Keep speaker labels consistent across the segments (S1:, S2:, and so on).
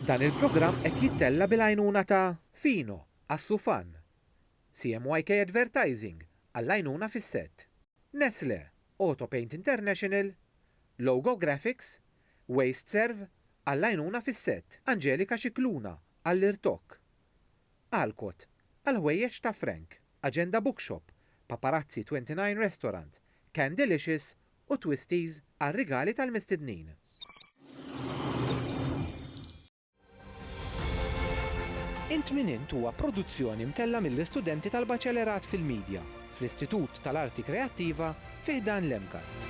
S1: Dan il-programm qed jittella' bil-għajnuna ta' Fino, Assufan, CMYK Advertising, għall-għajnuna fis-sett, Nestlé, Autopaint International, Logo Graphics, WasteServ, għall-għajnuna fis-sett, Angelika Scicluna, għall-irtokk, Alcott, għall-ħwejjeġ ta' Frank, Agenda Bookshop, Paparazzi 29 Restaurant, Candelicious u twisties għar-rigali tal-mistednin. Int Min Int huwa produzzjoni mtellgħa mill-istudenti tal-Baċelerat fil-Midja fl-Istitut tal-Arti Kreattiva fi ħdan l-MCAST.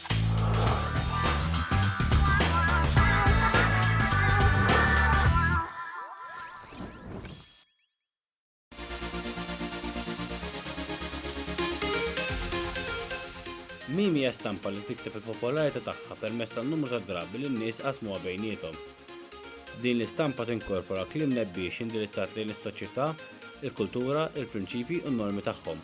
S2: Meme hija stampa li tikseb il-popolarità tagħha permezz tan-numru ta' drabi li n-nies qasmuha bejniethom. Din l-istampa tinkorpora kliem nebbiex indirizzat lejn is-soċjetà, il-kultura, il-prinċipji u n-normi tagħhom.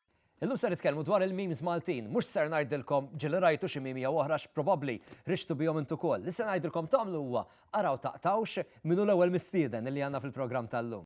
S3: Illum se nitkellmu dwar il-memes Maltin. Mhux ser ngħidilkom ġieli rajtu xi meme jew oħra x'probabbli rixtu bihom int ukoll. Li se ngħidilkom tagħmlu huwa araw taqtgħux min hu l-ewwel mistieden illi għandna fil-programm tal-lum.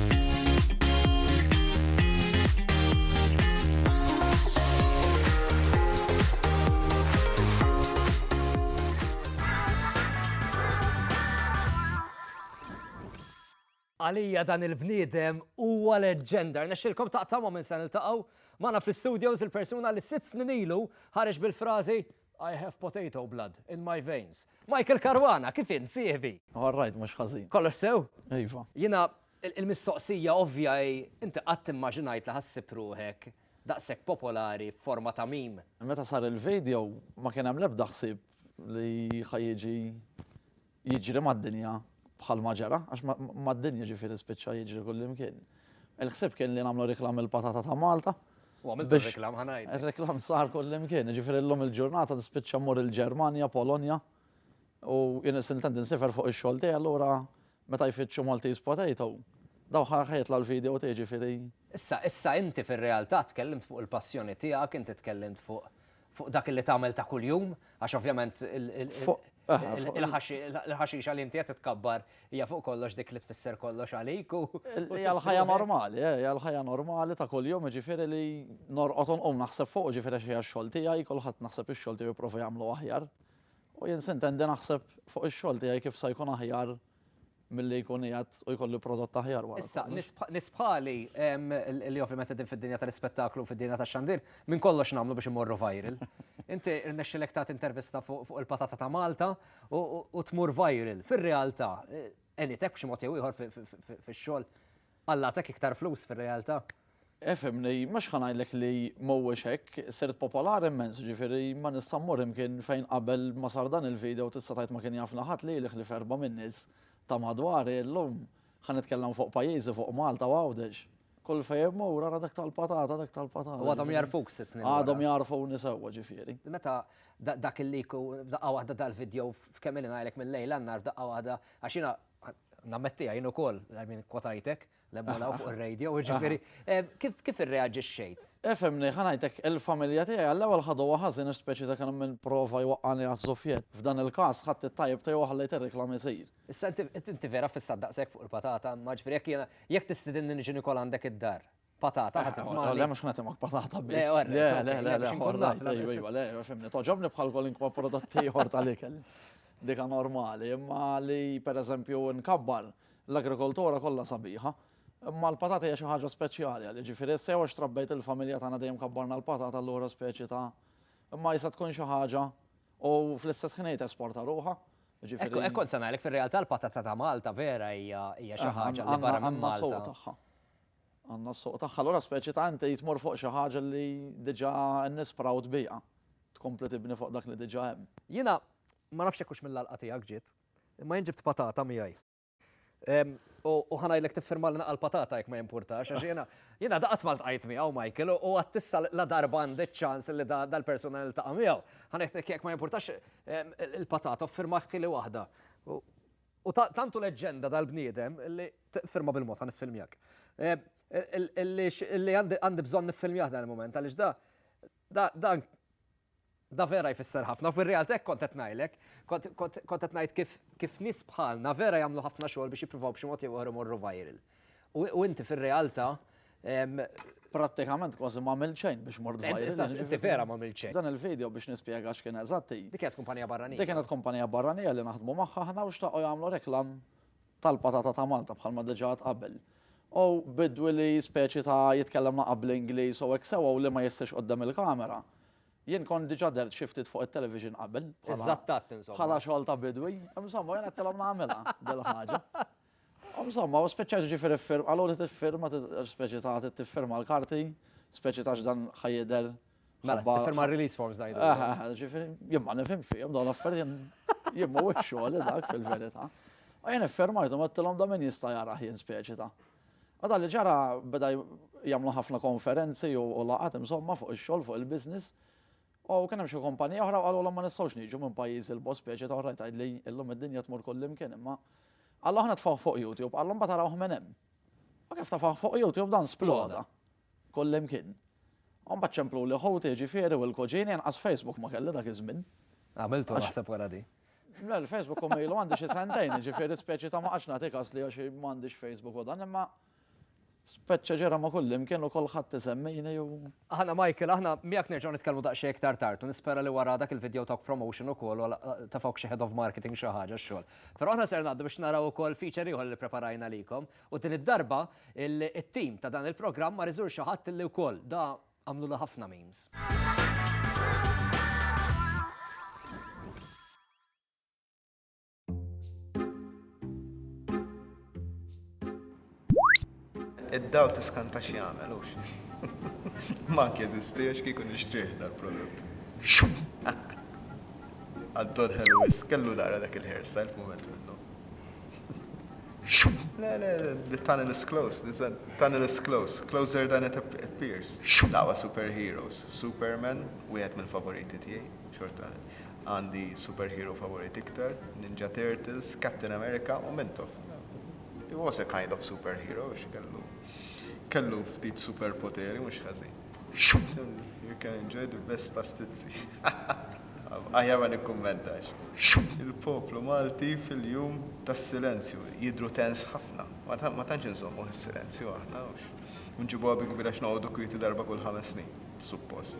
S3: Għalija dan il-bniedem huwa leġġenda. Nexxilkom taqtamu minn se niltaqgħu magħna fl-studios il-persuna li sitt snin ilu ħareġ bil-frażi I have potato blood in my veins. Michael Caruana, kif int, sieħbi? All right, mhux ħażin.
S4: Kollox sew? Iva.
S3: Jiena il-mistoqsija ovvja hi, inti qatt immaġinajt li ħassib ruħek daqshekk popolari f'forma ta' meme? Meta sar il-video
S4: ma kien hemm l-ebda ħsieb li ħa jiġi jiġri mad-dinja bħalma ġara, għax mad-dinja ġifieri spiċċa jiġri kullimkien. Il-ħsieb kien li nagħmlu reklam il-patata ta' Malta. U għamilt reklam
S3: ħa ngħid. Ir-reklam sar kullimkien,
S4: ġifieri llum il-ġurnata tispiċċa mmur il-Ġermanja, Polonja, u jien intant insifer fuq ix-xogħol tiegħi allura meta jfittxu Maltese potato, daw ħa jitla' l-video tiegħi ġifieri. Issa, issa inti
S3: fir-realtà tkellimt fuq il-passjoni tiegħek, inti tkellimt fuq Fuq dak li tagħmel ta' kuljum, għax ovvjament il-ħaxixa li inti qed titkabbar hija fuq kollox dik li tfisser kollox għalik u. Hija l-ħajja
S4: normali, eh, hija l-ħajja normali ta' kuljum, jiġifieri li norqod u nqum naħseb fuq, jiġifieri xi x-xogħol tiegħi, kulħadd naħseb ix-xogħol tiegħu jipprova jagħmlu aħjar. U jien sintendi naħseb fuq ix-xogħol tiegħi kif se jkun aħjar milli jkun qiegħed u jkollu prodott aħjar wara. Issa, nies
S3: bħali li ovvjament qegħdin fid-dinja tal-ispettaklu, fid-dinja tax-xandir, minn kollox nagħmlu biex immorru viral. Inti rnexxilek tagħti intervista fuq il-patata ta' Malta u tmur viral. Fir-realtà, qenitek b'xi mod jew ieħor fix-xogħol? Alla għatak iktar flus fir-realtà. Efhimni,
S4: mhux ħa ngħidlek li mhuwiex hekk, sirt popolari mmens, jiġifieri ma nista' mmur imkien fejn qabel ma sar dan il-video tista' tgħid ma kien jafna ħadd li li ħlief erbgħa min-nies ta' madwari, illum ħa nitkellem fuq pajjiżi, fuq Malta u Għawdex. Kull fejn immur ara dak tal-patata, dak tal-patata. U għadhom jagħrfuk sitt snin
S3: wara. Għadhom jagħrfuni sewwa
S4: ġifieri. Meta
S3: dak il-leak u f'daqqa waħda dal-video f'kemm ilni ngħidlek mil-lejl għan-nhar f'daqqa waħda għax jiena Nammettiha jien ukoll, I mean, kwotajtek, l-emmolaw fuq ir-radio, ġifieri, kif irreaġixxejt? Efhemni, ħa ngħidlek,
S4: il-familja tiegħi għall-ewwel ħaduha ħażin ispeċi ta' kien hemm min prova jwaqqagħni għaż-żuffjett. F'dan il-każ ħadt it-tajjeb tiegħu u ħallejt ir-riklam isir. Issa inti
S3: vera fissat daqshekk fuq il-patata, imma ġifieri jekk jiena, jekk tistidinni niġi nikol għandek id-dar, patata ħadd tmani. Le mhux ħadd imgħak patata
S4: biss. Le, le, le, le, ħorra, iva, le, fimni, toġobni bħal kolinkwa prodotti ieħor tal-ikel. Dika normali, imma li pereżempju nkabbar l-agrikoltura kollha sabiħa. Imma l-patata hija xi ħaġa speċjali għal jiġifieri sew għax trabbejt il-familja tagħna dejjem kabbarna l-patata allura speċi ta' imma jista' tkun xi ħaġa u fl-istess ħin tesporta ruħha. Ekkont kont se
S3: ngħidlek fir-realtà l-patata ta' Malta vera hija xi ħaġa li barra minn Malta. Għandna
S4: s-suq tagħha. Allura speċi ta' inti tmur fuq xi ħaġa li diġà n-nies proud biha. Tkompli tibni fuq dak li diġà hemm. Jiena, ma
S3: nafx jekk hux mill-għalqa tiegħek ġiet, imma jien ġibt patata miegħi. U ħa ngħidlek tiffirma lna għall-patata jekk ma jimpurtax, għax jiena, jiena għadha qatt ma ltqajt miegħu Michael u għad issa la darba għandi ċ-ċans li dal-persuna niltaqa' miegħu. Ħa ngħidlek jekk ma jimpurtax il-patata u ffirmaħ ħili waħda. U tant hu leġġenda dal-bniedem li, firma bil-mod ħa niffilmjak, li għandi bżonn niffilmjah dan il-mument għaliex da, da, da vera jfisser ħafna. U fir-realtà hekk kont qed ngħidlek, kont qed ngħid kif nies bħalna vera jagħmlu ħafna xogħol biex jippruvaw b'xi mod jew ieħor imorru viral. U inti fir-realtà prattikament
S4: kważi m'għamilt xejn biex mort viral. Inti vera m'għamilt xejn.
S3: Dan il-video biex nispjega
S4: x'kien eżatt hi. Dik kienet kumpanija barranija.
S3: Dik kienet kumpanija barranija
S4: li naħdmu magħha aħna u xtaqgħu jagħmlu reklam tal-patata ta' Malta bħalma diġà għedt qabel. U bidwi li speċi ta' jitkellem naqra bl-Ingliż u hekk sewgħu li ma jistħix quddiem il-kamera. Jien kont diġà dert xi ftit fuq it-television qabel. Iżattat insomma. Bħala
S3: xogħol ta' bidwi.
S4: Insomma jien għedtilhom nagħmilha dil-ħaġa. Insomma, u spiċċajt jiġifieri ffirm, qaluli tiffirma, speċi ta' tiffirma l-karti, speċi ta' x'dan ħa jidher. Mela, tiffirma
S3: r-release forms ngħidu. Eh, eh, eh ġifieri, jien ma
S4: nifhem fihom dawn l-affarijiet jien mhuwiex xogħol dak fil-verità. U jien iffirmajthom għedtilhom da min jista' jara jien speċi ta'. Għadha li ġara beda jagħmlu ħafna konferenzi u laqat insomma fuq ix-xogħol fuq il-business. U kien hemm xi kumpanija oħra u qalulhom ma nistgħux niġu minn pajjiż 'il bogħod speċi ta' oraj tgħidli illum id-dinja tmur kullimkien imma Qallu aħna tfawh fuq YouTube, qallu mbagħad arawh minn hemm. U kif tafawh fuq YouTube dan sploda kullimkien. U mbagħad ċempluli ħuti jiġifieri u l-kuġini inqas Facebook ma kelli dak iż-żmien. Għamiltu naħseb
S3: wara di. Le l-Facebook u
S4: ilu għandi xi sentejn jiġifieri speċi ta' ma qgħadx nagħti kas li għax m'għandix Facebook u dan imma Speċċa ġara ma' kullimkien u kulħadd isemmini u. Aħna Michael, aħna
S3: miegħek nerġgħu nitkellmu daqsxejn iktar tard u nispera li wara dak il-video tawk promotion ukoll u tafawk xi head of marketing xi ħaġa x-xogħol. Però aħna ser ngħaddu biex naraw ukoll feature ieħor li ppreparajna għalikom u din id-darba it-team ta' dan il-programm mar iżur xi ħadd li wkoll da għamlulu ħafna memes.
S5: Id-dawl tiskanta x'jagħmel hux. Ma jeżisti għax kieku nixtrih dal-prodott. Għaddod ħelu wis, kellu dara dak il-hairstyle f'mument minnu. Le, le, the tunnel is close, the tunnel is close, closer than it appears. Dawa superheroes, Superman, wieħed mill-favoriti tiegħi, xorta. Għandi superhero favorit iktar, Ninja Turtles, Captain America u Mintoff. He was a kind of superhero għax kellu kellu ftit superpoteri mhux ħażin. You can enjoy the best pastizzi. Aħjar ma nikkummentax. Il-poplu Malti fil-jum tas-silenzju jidhru tense ħafna. Ma tantx inżommuh is-silenzju aħna u nġibuha bi kbir għax noqogħdu kwieti darba kull ħames snin, suppost.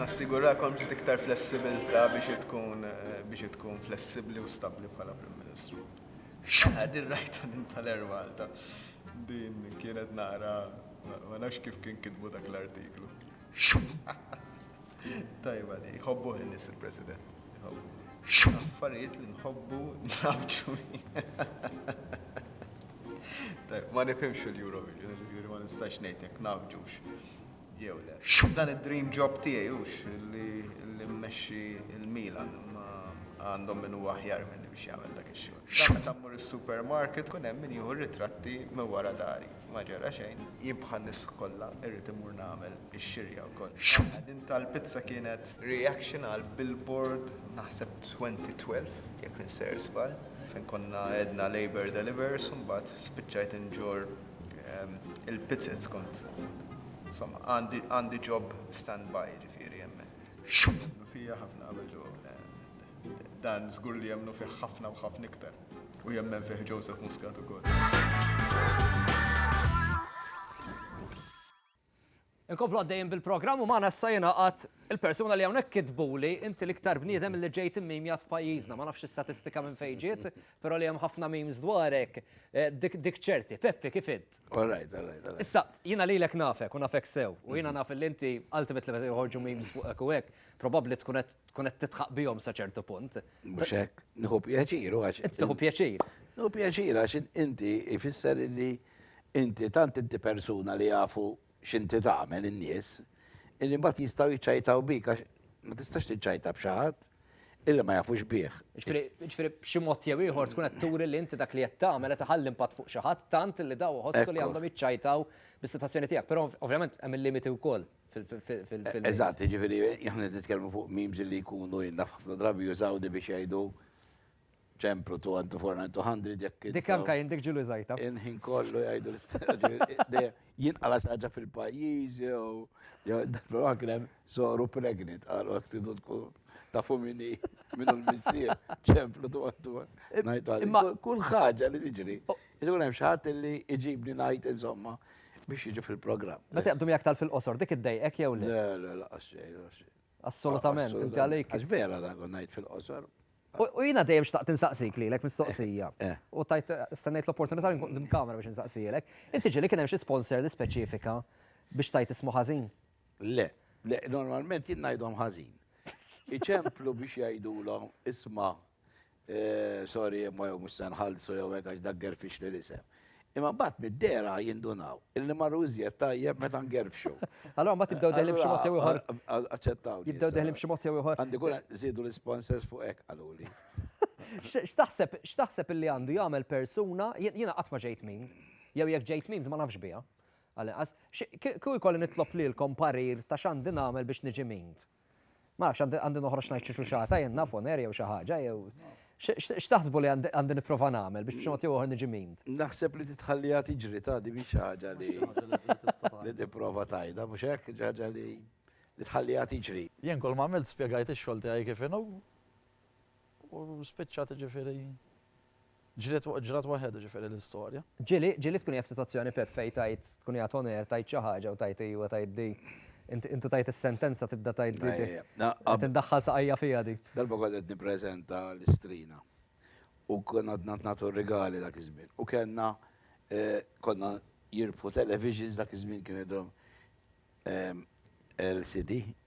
S5: Nassigurakom ġiet iktar flessibilità biex hi tkun biex hi tkun flessibbli u stabbli bħala Prim Ministru. Aha, din rajtha din tal-Air Malta. Din kienet naqra ma nafx kif kien kitbu dak l-artiklu. Tajba di, jħobbuh in-nies il-President. Affarijiet li nħobbu nafġu. Tajb, ma nifhimx il-Eurovision, ġifieri ma nistax ngħidlek nafġux. Jew le. Dan id-dream job tiegħi hux li mmexxi il-Milan ma għandhom min huwa aħjar minni biex jagħmel dak ix-xogħol. Dan meta mmur is-supermarket kun hemm min jieħu ritratti minn wara dari. Ma ġara xejn, jien bħal nies kollha irrid imur nagħmel ix-xirja wkoll. X'wara din tal-pizza kienet reaction għal billboard naħseb 2012 jekk minser żball, fejn konna għedna Labour delivers u mbagħad spiċċajt inġorr il-pizzez kont insomma għandi job stand by jiġifieri hemmhekk. X'wara? Jemmnu fija ħafna qabel ġo dan żgur li jemmnu fih ħafna u ħafna iktar. U jemmen fih Joseph Muscat ukoll.
S3: Inkomplu għaddejjin bil-programm u magħna issa jingħaqad il-persuna li hawnhekk kitbuli inti l-iktar bniedem li ġejt immimjat f'pajjiżna, ma nafx statistika minn fejn ġiet, però li hemm ħafna memes dwarek, eh, dik ċerti. Peppi kif int? All right, all right, all right.
S6: Issa, jiena
S3: lilek nafek u nafek sew, u jiena naf li inti ultimately meta joħorġu memes fuq hekk u hekk, probabbli tkun qed Tkun qed tidħaq bihom sa ċertu punt. Mhux hekk,
S6: nieħu pjaċir għax. Tieħu pjaċir.
S3: Nieħu pjaċir
S6: għax inti ifisser li inti tant inti persuna li jafu x'inti tagħmel in-nies, illi mbagħad jistgħu jiċċajtaw bik għax ma tistax tiċċajta b'xi ħadd illi ma jafux bih. Ġifieri b'xi
S3: mod jew ieħor tkun qed turi li inti dak li qed tagħmel qed iħalli impatt fuq xi ħadd tant li daw iħossu li għandhom jiċċajtaw bis-sitwazzjoni tiegħek. Però ovvjament hemm il-limiti wkoll. fil-film. Eżatt, ġifieri
S6: aħna qed nitkellmu fuq memes li jkunu jien naf ħafna drabi jużaw di biex jgħidu ċempru 200 jekk. Dik anke jien dik ġieli
S3: żgħita. Il-ħin kollu jgħidu
S6: l-istess. Jinqala' xi ħaġa fil-pajjiż jew jew probabbli kien hemm soru pregnant qalu jekk tridu tkun tafu min hi min hu l-missier ċempru 200. Ngħid għalih kull ħaġa li tiġri. Ikun hemm xi ħadd li jġibni ngħid insomma biex jiġi fil-programm. Meta jaqbdu miegħek tal fil-qosor,
S3: dik iddejqek jew le? Le, le, laqas xejn, laqas xejn.
S6: Assolutament,
S3: inti għalik. Għax vera dan kont ngħid
S6: fil-qosor. U jiena dejjem
S3: xtaqt insaqsik lilek mistoqsija. Eh. U tajt stennejt l-opportunità li nkun kamera biex insaqsilek. Inti ġieli kien hemm xi sponsor li speċifika biex tajt ismu ħażin? Le,
S6: le, normalment jien ngħidhom ħażin. Iċemplu biex jgħidulhom isma' Sorry imma jew mhux se nħallsu jew hekk għax dak gerfixli l-isem. Imma mbagħad mid-dehra jindunaw illi marru iżjed tajjeb meta ngerfxu. Allura mbagħad jibdew
S3: deħlin b'xi mod jew ieħor. Aċċettawni. Jibdew
S6: deħlin b'xi mod
S3: jew ieħor. Għandi kura żiedu
S6: l-isponsors fuq hekk qaluli. X'taħseb
S3: x'taħseb illi għandu jagħmel persuna, jiena qatt ma ġejt memed, jew jekk ġejt memed ma nafx biha, għal inqas, kieku jkolli nitlob lilkom parir ta' x'għandi nagħmel biex niġi memed? Ma nafx, għandi- għandi noħroġ ngħid xi xuxata jien naf on air jew xi ħaġa jew. X- x- X'taħsbu li għandi għandi nipprova nagħmel biex b'xi mod jew ieħor niġi memed? Naħseb li titħalliha
S6: tiġri ta' di mhix xi ħaġa li li tipprova tgħidha, mhux hekk? Xi ħaġa li li tħalliha tiġri. Jien kull ma għamilt
S4: spjegajt ix-xogħol tiegħi kif inhu. U spiċċat jiġifieri ġriet ġrat waħedha jiġifieri l-istorja. Ġieli, ġieli tkun hija
S3: f'sitwazzjoni perfej tgħid tkun hija toner tgħid xi ħaġa u tgħid ejwa tgħid di. Int intu tgħid is-sentenza tibda tgħid di di. Qed indaħħal saqajja fiha di. Darba kont qed nippreżenta
S6: l-istrina u konna għadna nagħtu r-rigali dak iż-żmien. U kellna konna jirbħu televisions dak iż-żmien kien għedhom LCD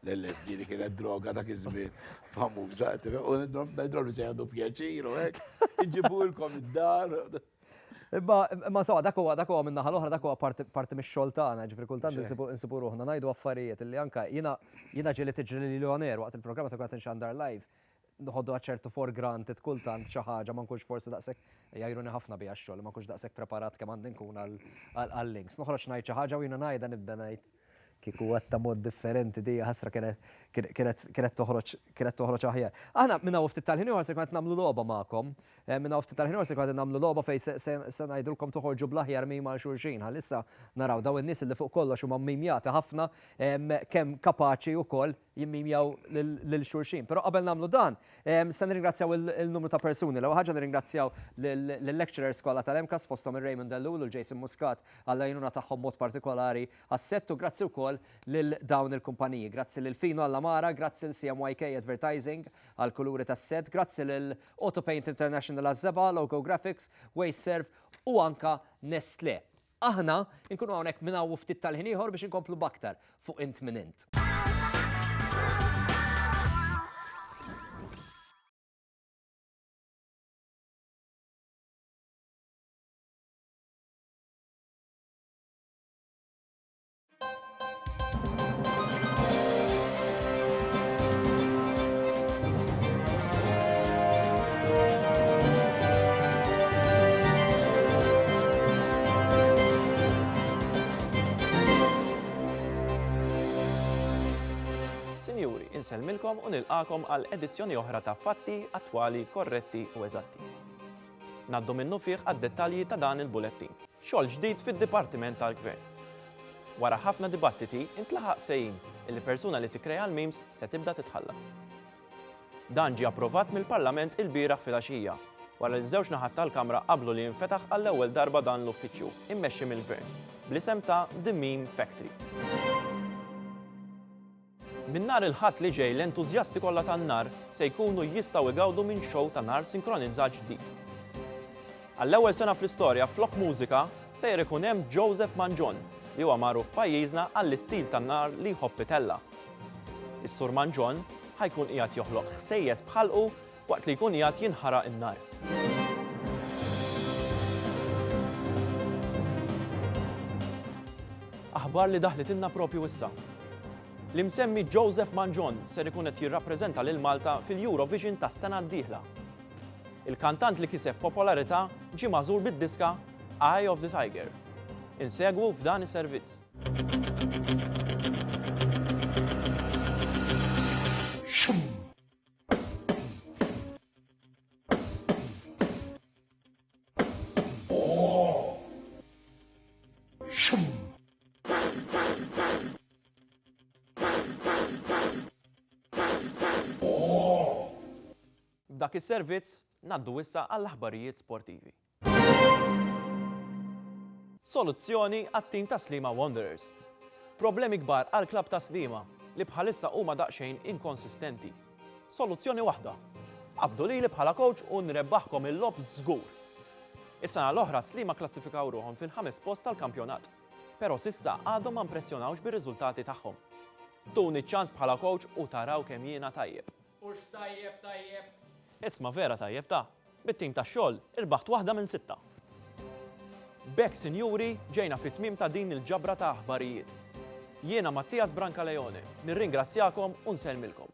S6: L-LSD li kienet droga dak iż-żmien famuża, u d-droga se jgħadu pjaċir u hekk, iġibulkom id-dar. Imma
S3: imma sawa dak huwa dak huwa minn naħa l-oħra dak huwa parti mix-xogħol tagħna, ġifieri kultant insibu ruħna ngħidu affarijiet li anke jiena jiena ġieli tiġri lili on air waqt il-programm meta kont qed inxandar live noħodha ċertu for granted kultant xi ħaġa ma nkunx forsi daqshekk jgħajruni ħafna biha x-xogħol ma nkunx daqshekk preparat kemm għandi nkun għal-links. Noħroġ ngħid xi ħaġa u jiena ngħidha nibda ngħid Kieku għedtha mod differenti di ħasra kienet toħroġ kienet toħroġ aħjar. Aħna minn hawn ftit tal-ħin ieħor se nkun qed nagħmlu logħba magħkom. Eh, minn hawn ftit tal-ħin ieħor se nkun qed nagħmlu logħba fejn se ngħidulkom toħorġu bl-aħjar mim għal xulxin. Ħalissa naraw daw in-nies li fuq kollox huma mmimjati ħafna kemm kapaċi wkoll jimmimjaw lil xulxin. Però qabel nagħmlu dan, se nirringrazzjaw il-numru ta' persuni. L-ewwel ħaġa nirringrazzjaw lill-lecturers kollha tal-MCAS fosthom ir-Raymond Ellul u l-Jason Muscat għall-għajnuna tagħhom mod partikolari għas-sett u grazzi wkoll lil dawn il-kumpaniji. Grazzi lil Fino għall-għamara, grazzi lil CMYK Advertising għall-kuluri tas-sett, grazzi lil Autopaint International għaż-żebgħa, Loco Graphics, Wasteserv u anke Nestlé. Aħna nkunu hawnhekk minn hawn u ftit tal-ħin ieħor biex inkomplu b'aktar fuq Int Min Int.
S7: insellmilkom u nilqakom għal edizzjoni oħra ta' fatti attwali, korretti u eżatti. Naddu minnu fih għad-dettalji ta' dan il-bulettin. Xogħol ġdid fid-Dipartiment tal-Gvern. Wara ħafna dibattiti, intlaħaq ftehim li persuna li tikkrea l-memes se tibda titħallas. Dan ġie approvat mill-Parlament ilbieraħ filgħaxija, wara li ż-żewġ naħat tal-Kamra qablu li jinfetaħ għall-ewwel darba dan l-uffiċċju, immexxi mill-Gvern, bl-isem ta' The Meme Factory. Minn nhar il-Ħadd li ġej l-entużjasti kollha tan-nar se jkunu jistgħu igawdu minn xow ta' nar sinkronizzat ġdid. Għall-ewwel sena fl-istorja flok mużika sejjer ikun hemm Joseph Mangion li huwa magħruf f'pajjiżna għall-istil tan-nar li jħobb itella'. Is-Sur Mangion ħa jkun qiegħed joħloq ħsejjes b'ħalqu Waqt li jkun qiegħed jinħaraq in-nar. Aħbar li daħlitilna proprju issa. L-imsemmi Joseph Mangion ser ikun qed jirrappreżenta lil Malta fil-Eurovision tas-sena d-dieħla. Il-kantant li kiseb popolarità ġie magħżul bid-diska Eye of the Tiger. Insegwu f'dan is-servizz. Dak is-servizz ngħaddu issa għall-aħbarijiet sportivi. Soluzzjoni għat-tim ta' Sliema Wanderers. Problemi kbar għall-klabb ta' Sliema li bħalissa huma daqsxejn inkonsistenti. Soluzzjoni waħda, qabdu lili bħala kowċ u nrebbaħkom il-logħob żgur! Is-sena l-oħra Sliema kklassifikaw ruħhom fil-ħames post tal-kampjonat, però s'issa għadhom ma mpressjonawx bir-riżultati tagħhom. Tuni ċ-ċans bħala kowċ u taraw kemm jiena tajjeb. Hux
S8: tajjeb tajjeb! Isma' vera
S7: tajjeb ta! Bit-tim tax-xogħol irbaħt waħda minn sitta! B'hekk sinjuri ġejna fit-tmiem ta' din il-ġabra ta' aħbarijiet. Jiena Mattias Brancaleone nirringrazzjakom u nsellmilkom.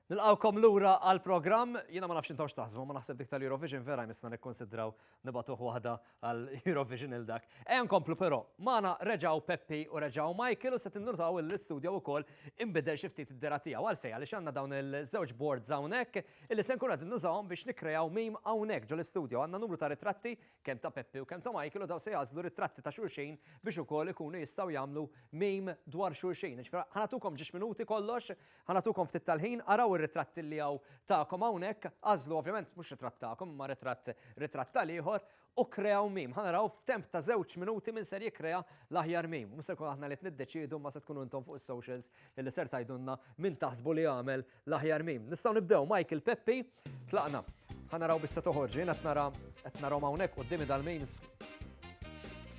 S3: Nilqgħukom lura għall-programm. Jiena ma nafx intom x'taħsbu, ma naħseb dik tal-Eurovision vera jmissna nikkonsidraw nibatuh waħda għall-Eurovision il dak. Ejja nkomplu però, magħna reġgħu Peppi u reġgħu Michael u se tinnutaw li l-istudio wkoll inbidel xi ftit id-dera tiegħu. Għalfejn? Għaliex għandna dawn il-żewġ boards hawnhekk illi se nkunu qegħdin nużawhom biex nikkreaw meme hawnhekk ġol-istudio. Għandna numru ta' ritratti kemm ta' Peppi u kemm ta' Michael u dawn se jagħżlu ritratti ta' xulxin biex ukoll ikunu jistgħu jagħmlu meme dwar xulxin. Jiġifieri ħa nagħtukom ġiex minuti kollox, ħa nagħtukom ftit tal-ħin, araw ir-ritratti li hawn tagħkom hawnhekk, għażlu ovvjament mhux ritratt tagħkom imma ritratt ritratt tal-ieħor u kreaw meme. Ħa naraw f'temp ta' żewġ minuti min ser jikkrea l-aħjar meme. Mhux se nkunu aħna li qed niddeċiedu imma se tkunu intom fuq is-socials illi ser tgħidulna min taħsbu li għamel L-aħjar meme. Nistgħu nibdew Michael Peppi. Tlaqna. Ħa naraw biex se toħorġ. Jien qed nara qed narahom hawnhekk quddiemi dal-memes.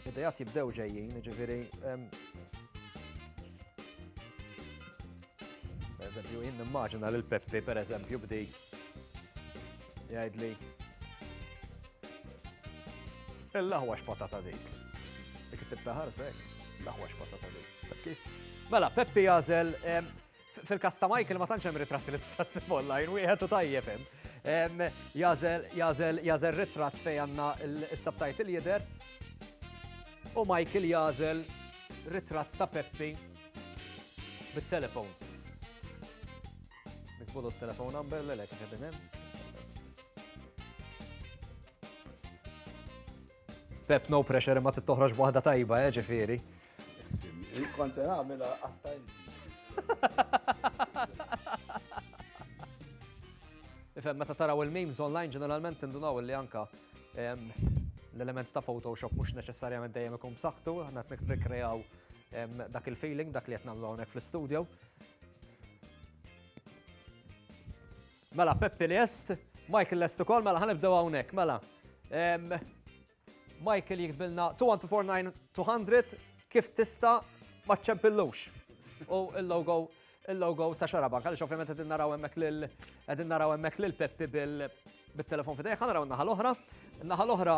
S3: Idejat jibdew ġejjin, jiġifieri. Per eżempju, jien nimmaġina lil Peppi per eżempju bdi jgħidli. Il-laħwa x'patata dik. Dik it-tibta ħarsek, laħwa x'patata dik. Mela, Peppi jażel Fil-kas ta' Michael ma tantx hemm ritratti li tista' ssib online, wieħed u tajjeb hemm. Jażel, jażel, jażel ritratt fejn għandna s-subtitle jidher. U Michael jażel ritratt ta' Peppi bit-telefon. Nikbulu t-telefon number l lek ġedin hemm. Pep no pressure ma tittoħroġ waħda tajba, eh, ġifieri.
S6: Kont se nagħmilha qatta
S3: Ifem, meta taraw il-memes online ġeneralment tindunaw li anka l-element ta' Photoshop mhux neċessarjament dejjem ikun b'saħħtu, aħna qed nikreaw dak il-feeling, dak li qed nagħmlu hawnhekk fl-istudio. Mela, Peppi li est, Michael lest ukoll, mela ħanibdew hawnhekk, mela. Michael jiktbilna 2149200 kif tista' ma ċċempillux. U il-logo il-logo ta' xarabank, għaliex ovvjament qegħdin naraw hemmhekk lil qegħdin naraw hemmhekk lil Peppi bil-telefon fidejh, ħa naraw n-naħa l-oħra. N-naħa l-oħra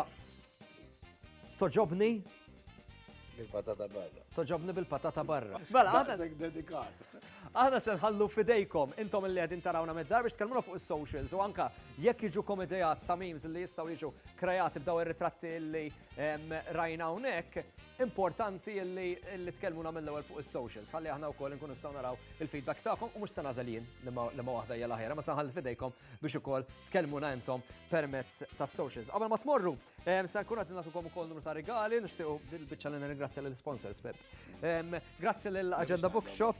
S3: toġobni
S6: Bil-patata barra. Toġobni bil-patata
S3: barra. Mela, għadek dedikat.
S6: Aħna se
S3: nħallu f'idejkom, intom li qegħdin tarawna mid-dar biex tkellmuna fuq is-socials u anke jekk jiġukom ideat ta' memes li jistgħu jiġu kreati b'dawn ir-ritratti li rajna hawnhekk, importanti li tkellmuna mill-ewwel fuq is-socials ħalli aħna wkoll inkunu nistgħu naraw il-feedback tagħkom u mhux se nagħżel jien liema waħda hija l-aħjar imma se nħalli f'idejkom biex ukoll tkellmuna intom permezz tas-socials. Qabel ma tmorru, se nkun qed nagħtukom ukoll numru ta' rigali, nixtiequ din il-biċċa li nirringrazzja lill-isponsors, Pep. Grazzi l-Agenda Bookshop,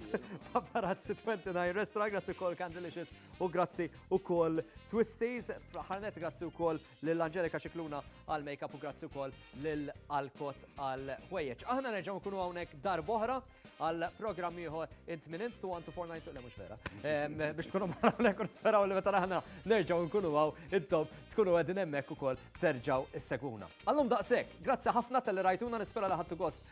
S3: Paparazzi 29 Restaurant, grazzi kol Candelicious u grazzi u kol Twisties. Ħarnet grazzi u kol l-Angelika Xikluna għal-makeup u grazzi u kol l-Alkot għal-ħwejjeċ. Aħna nerġaw kunu għawnek dar boħra għal-program iħor int minn int tu għantu forna intu l-mux vera. Biex tkunu marra l-ekun speraw li meta aħna nerġaw nkunu għaw intom tkunu għedin emmek u kol terġaw is-seguna. Għallum daqsek, grazzi ħafna tal-rajtuna nispera li ħattu gost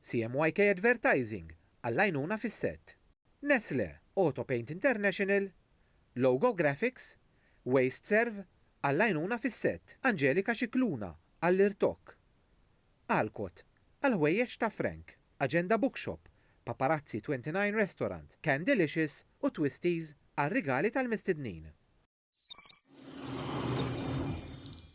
S1: CMYK Advertising għall-għajnuna fis-sett, Nestlé Auto Paint International, Logo Graphics, WasteServ għall-għajnuna fis-sett, Angelika Scicluna għall-irtokk, Alcott għall-ħwejjeġ ta' Frank, Agenda Bookshop, Paparazzi 29 Restaurant, Candelicious u Twisties għar-rigali tal-mistednin.